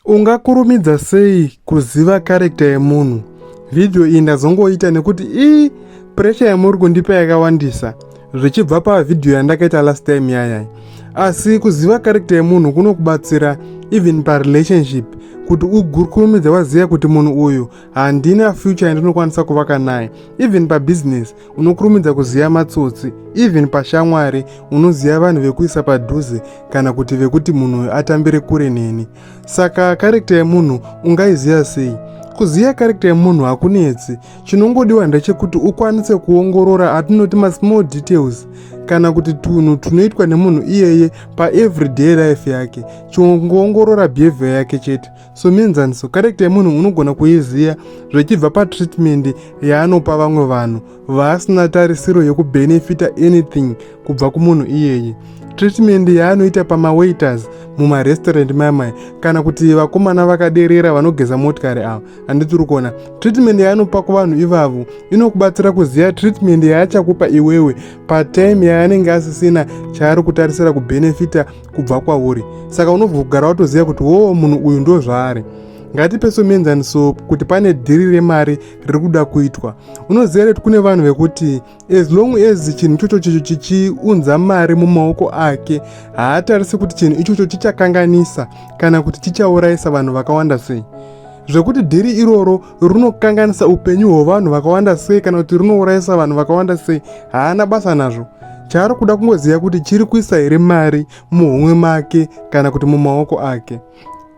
Ungakurumidza sei kuziva karekta yemunhu? Vhidhiyo iyi ndazongoita nekuti ii puresha yamuri kundipa yakawandisa zvichibva pavhidhiyo yandakaita last time yayai. Asi kuziva karekta yemunhu kunokubatsira even parelationship kuti ukurumidze waziva kuti munhu uyu handina future yandinokwanisa kuvaka naye even pabusiness unokurumidza kuziva matsotsi even pashamwari unoziva vanhu vekuisa padhuze kana kuti vekuti munhu uyu atambire kure neni saka karekta yemunhu ungaiziva sei kuziva karekta yemunhu hakunetsi chinongodiwa ndechekuti ukwanise kuongorora atinoti masmall details kana kuti tunhu tunoitwa nemunhu iyeye paeveryday life yake chongoongorora behavior yake chete Somuenzaniso, karekita yemunhu unogona kuiziva zvichibva patreatment yaanopa vamwe vanhu vaasina tarisiro yekubenefita anything kubva kumunhu iyeye. Treatment yaanoita pamawaiters mumarestaurant mamai kana kuti vakomana vakaderera vanogeza motikari ava handitiri kuona treatment yaanopa kuvanhu ivavo inokubatsira kuziva treatment yaachakupa iwewe patime yaanenge asisina chaari kutarisira kubenefita kubva kwauri saka unobva kugara watoziva kuti woo munhu uyu ndo zvaari ngatipe somuenzaniso kuti pane dhiri remari riri kuda kuitwa unoziva reti kune vanhu vekuti as long as chinhu ichocho chicho chichiunza mari mumaoko ake haatarise kuti chinhu ichocho chichakanganisa kana kuti chichaurayisa vanhu vakawanda sei zvekuti dhiri iroro runokanganisa upenyu hwevanhu vakawanda sei kana kuti runourayisa vanhu vakawanda sei haana basa nazvo chaari kuda kungoziva kuti chiri kuisa here mari muhomwe make kana kuti mumaoko ake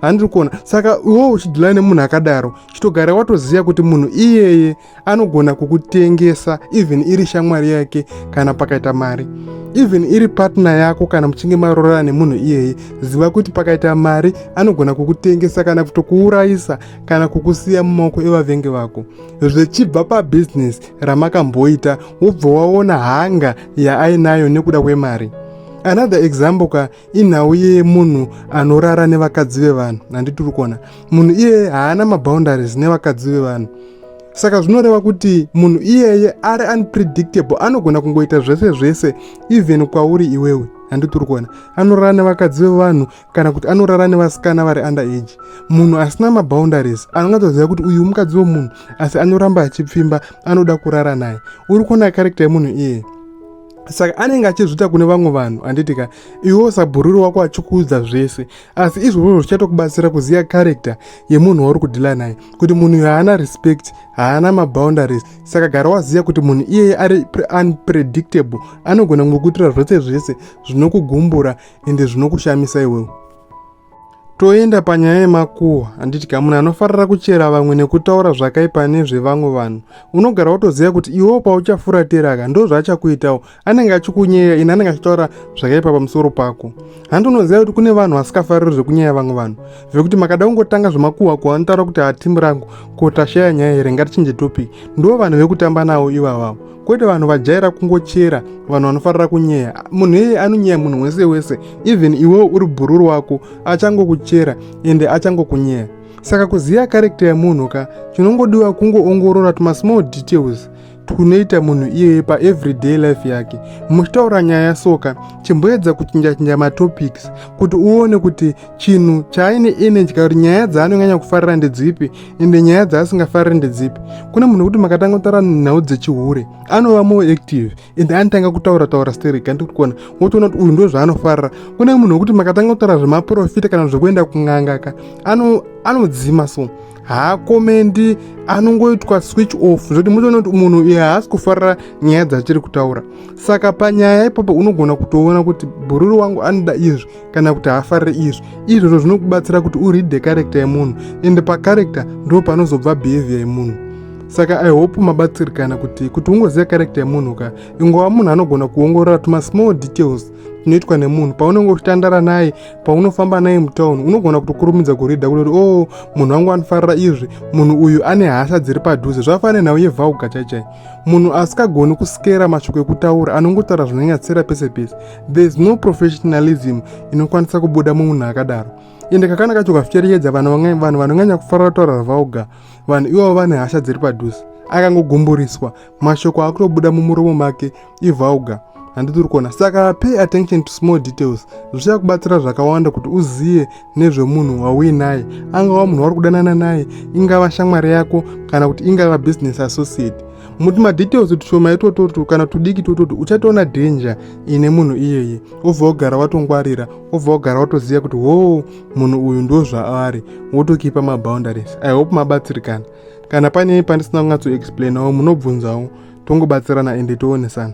handiri kuona saka iwo uchidhilana nemunhu akadaro chitogara watoziva kuti munhu iyeye anogona kukutengesa even iri shamwari yake kana pakaita mari even iri patna yako kana muchinge marorana nemunhu iyeye ziva kuti pakaita mari anogona kukutengesa kana kutokuurayisa kana kukusiya mumaoko evavengi vako zvichibva pabhizinesi ramakamboita wobva waona hanga yaainayo nekuda kwemari another example ka inhau yemunhu anorara nevakadzi vevanhu handiti uri kuona munhu iyeye haana maboundaries nevakadzi vevanhu saka zvinoreva kuti munhu iyeye ari unpredictable anogona kungoita zvese zvese even kwauri iwewe handiti uri kuona anorara nevakadzi vevanhu kana kuti anorara nevasikana vari under age munhu asina maboundaries anonga toziva kuti uyu mukadzi wemunhu asi anoramba achipfimba anoda kurara naye uri kuona karekta yemunhu iye saka anenge achizviita kune vamwe vanhu handiti ka iwewo sabhururi wako achikuudza zvese asi izvozvo zvichatokubatsira kuziva karekta yemunhu wauri kudhila naye kuti munhu uyo haana respect haana maboundaries saka gara waziva kuti munhu iyeye ari unpredictable anogona kungokuitira zvese zvese zvinokugumbura ende zvinokushamisa iwewe toenda panyaya yemakuhwa handiti ka munhu anofarira kuchera vamwe nekutaura zvakaipa nezvevamwe vanhu unogara wotoziva kuti iwewo pauchafuratira ka ndo zvaachakuitawo anenge achikunyeya ini anenge achitaura zvakaipa pamusoro pako handi unoziva kuti kune vanhu vasikafariri zvekunyeya vamwe vanhu vekuti makada kungotanga zvemakuhwa ko anotaura kuti hatimu rangu ko tashaya nyaya here ngatichinje topic ndo vanhu vekutamba navo ivavavo kwete vanhu vajaira kungochera vanhu vanofarira kunyeya munhu iyeye anonyeya munhu wese wese even iwewo uri bhururu wako achangokuchera ende achangokunyeya saka kuziva karekta yemunhu ka chinongodiwa kungoongorora tumasmall details twunoita munhu iyeye paeveryday life yake muchitaura nyaya soka chimboedza kuchinjachinja matopics kuti uone kuti chinhu chaaine inedya kuti nyaya dzaanonyanya kufarira ndedzipi ende nyaya dzaasingafariri ndedzipi kune munhu wekuti makatanga kutaura nhau dzechihure anova more active ende anotanga kutaura taura sterek andi kuti kuona wotoona kuti uyu ndo zvaanofarira kune munhu wekuti makatanga kutaura zvemaprofita kana zvekuenda kungangaka anodzima so haakomendi anongoitwa switch off zvoti mutoona kuti munhu iye haasi kufarira nyaya dzatiri kutaura saka panyaya ipapo unogona kutoona kuti bhururu wangu anoda izvi kana kuti haafarire izvi izvozvo zvinokubatsira kuti uridhe karekta yemunhu ende pakarekta ndo panozobva behavior yemunhu saka i hope mabatsirikana kuti kuti ungoziva karekta yemunhu ka ingova munhu anogona kuongorora tuma small details tunoitwa nemunhu paunenge uchitandara naye paunofamba naye mutown unogona kutokurumidza kurida kuti o oh, munhu wangu anofarira izvi munhu uyu ane hasha dziri padhuze zvafana nhau yevhauga chaichai munhu asikagoni kusikera mashoko ekutaura anongotaura zvinonyatsira pese pese there is no professionalism inokwanisa kubuda mumunhu akadaro ende kakana kacho kaficherechedza vanhu vanhu vanonyanya kufarira taura ravaoga vanhu ivo vane hasha dziri padhuze akangogumburiswa mashoko akutobuda mumuromo make ivaoga handitiri kuona saka pay attention to small details zvichakubatsira zvakawanda kuti uzive nezvemunhu wauinaye angava munhu wauri kudanana naye ingava shamwari yako kana kuti ingava business associate muti madetails tushoma itototu kana tudiki tototu uchatoona danger ine munhu iyeye obva wogara watongwarira obva wogara watoziva kuti hoo munhu uyu ndo zvaari wotokipa maboundaries i hope mabatsirikana kana pane pandisina kunyatsoexplainawo munobvunzawo tongobatsirana ende toonesana